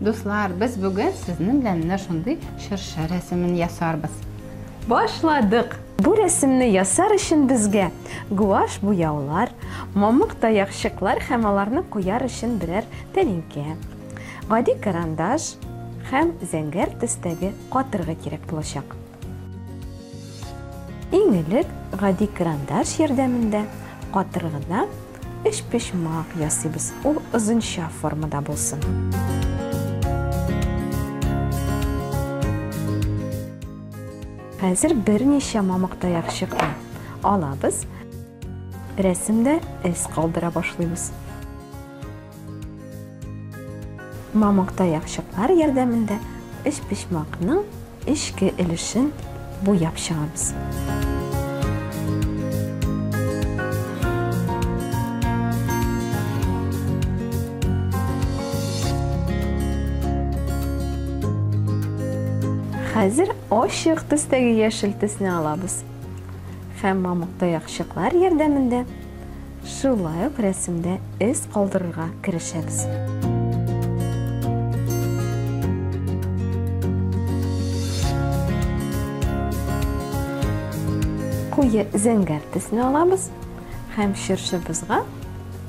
Дуслар, без бүген сезнең белән менә шундый чыршы рәсемен ясарбыз. Башладык! Бу рәсемне ясар өчен безгә гуаш буяулар, мамык таякчыклар һәм аларны куяр өчен берәр тәлинкә, гади карандаш һәм зәңгәр төстәге катыргы кирәк булачак. Иң элек гади крандаш ярдәмендә катыр гына өчпочмак ясыйбыз. Ул озынча формада булсын. Хәзер берничә мамык таяк чыкты. Алабыз. Рәсемдә эз калдыра башлыйбыз. Мамык таяк чыклар ярдәмендә өчпочмакның Эчке өлешен буяп чыгабыз. Хәзер ачык төстәге яшел төсне алабыз. Һәм мамык таякчыклар ярдәмендә Шулай ук рәсемдә эз калдырырга керешәбез. Куе зәңгәр төсне алабыз һәм чыршыбызга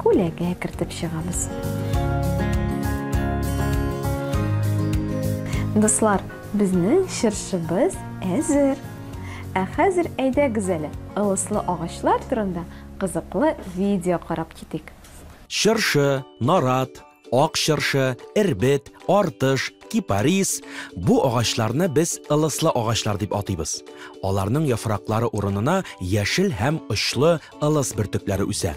күләгә кертеп чыгабыз. Дуслар, безнең чыршыбыз әзер. Ә хәзер әйдәгез әле, ылыслы агачлар турында Кызыклы видео карап китик. Чыршы, нарат, ак чыршы, эрбет, артыш, кипарис, бу агачларны без ылыслы агачлар дип атыйбыз. Аларның яфраклары урынына яшел һәм очлы ылыс бөртекләре үсә.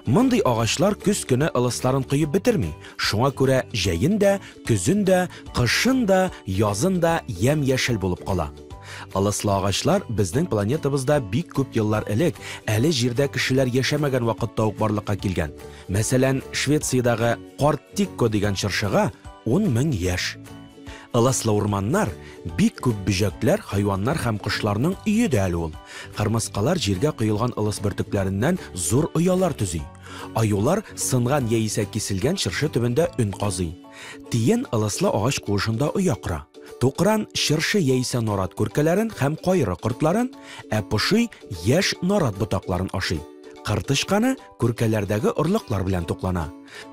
Мондый агачлар көз көне ылысларын коеп бетерми, шуңа күрә җәен дә, көзен дә, кышын да, язын да ямь-яшел булып кала. Ылыслы агачлар безнең планетабызда бик күп еллар элек, әле Җирдә кешеләр яшәмәгән вакытта ук барлыкка килгән. Мәсәлән, Швециядәге Карт Тикко дигән чыршыга ун мең яшь. Ылыслы урманнар, бик күп бөҗәкләр, хайваннар һәм кошларның өе дә әле ул. Кырмыскалар җиргә коелган ылыс бөртекләреннән зур оялар төзи. Аюлар сынган яисә киселгән чыршы төбендә өн казый. Тиен ылыслы агач куышында оя кора. Тукран чыршы яисә нарат күркәләрен һәм кайры кортларын, ә поши яшь нарат ботакларын ашый. Кыр тычканы күркәләрдәге орлыклар белән туклана.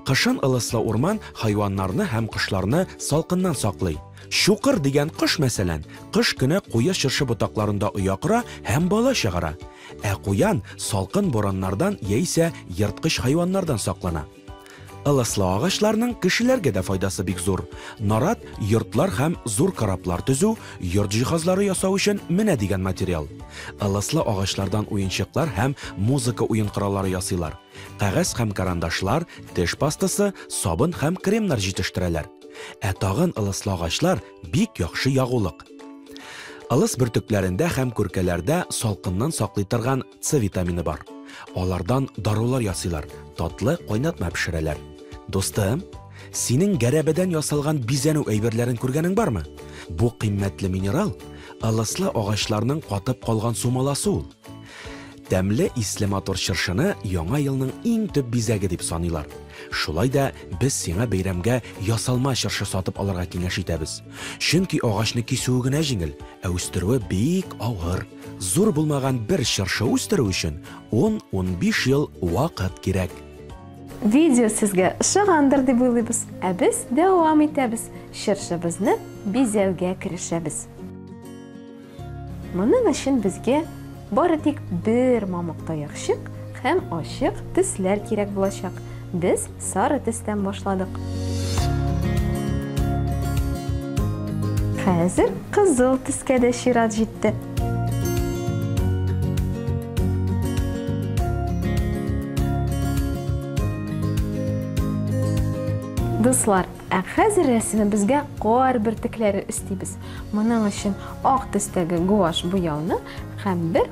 Кышын ылыслы урман хайваннарны һәм кошларны салкыннан саклый. Чукыр дигән кош, мәсәлән, кыш көне куе чыршы ботакларында оя кора һәм бала чыгара. Ә куян салкын бураннардан яисә ерткыч хайваннардан саклана. Ылыслы агачларның кешеләргә дә файдасы бик зур. Нарат, йортлар һәм зур кораблар төзү, йорт җиһазлары ясау өчен менә дигән материал. Ылыслы агачлардан уенчыклар һәм музыка уен кораллары ясыйлар. Кәгазь һәм карандашлар, теш пастасы, сабын һәм кремнар җитештерәләр. Ә тагын ылыслы агачлар, бик яхшы ягулык. Ылыс бөртекләрендә һәм күркәләрдә салкыннан саклый торган С витамины бар. Алардан дарулар ясыйлар, татлы кайнатма пешерәләр. Дустым, синең гәрәбәдән ясалган бизәнү әйберләрен күргәнең бармы? Бу кыйммәтле минерал ылыслы агачларның катып калган сумаласы ул. Тәмле исле матур чыршыны Яңа елның иң төп бизәге дип саныйлар. Шулай да без сиңа бәйрәмгә ясалма чыршы сатып алырга киңәш итәбез. Чөнки агачны кисүе генә җиңел, ә үстерүе бик авыр. Зур булмаган бер чыршы үстерү өчен 10-15 ел вакыт кирәк. Видео сезгә ошагандыр дип уйлыйбыз. Ә без дәвам итәбез, чыршыбызны бизәүгә керешәбез. Моның өчен безгә бары тик бер мамык таякчык һәм ачык төсләр кирәк булачак. Без Сары төстән башладык. Хәзер кызыл төскә дә чират җитте. Дуслар, ә хәзер рәсемебезгә кар бөртекләре өстибез. Моның өчен ак төстәге гуаш буяуны һәм бер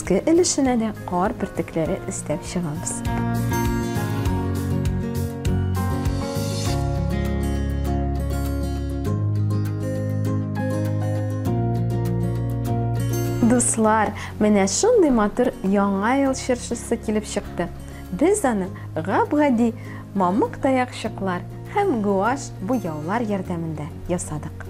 Өске өлешенә дә кар бөртекләре өстәп чыгабыз. Дуслар, менә шундый матур яңа ел чыршысы килеп чыкты. Без аны гап-гади мамык таякчыклар һәм гуаш буяулар ярдәмендә ясадык.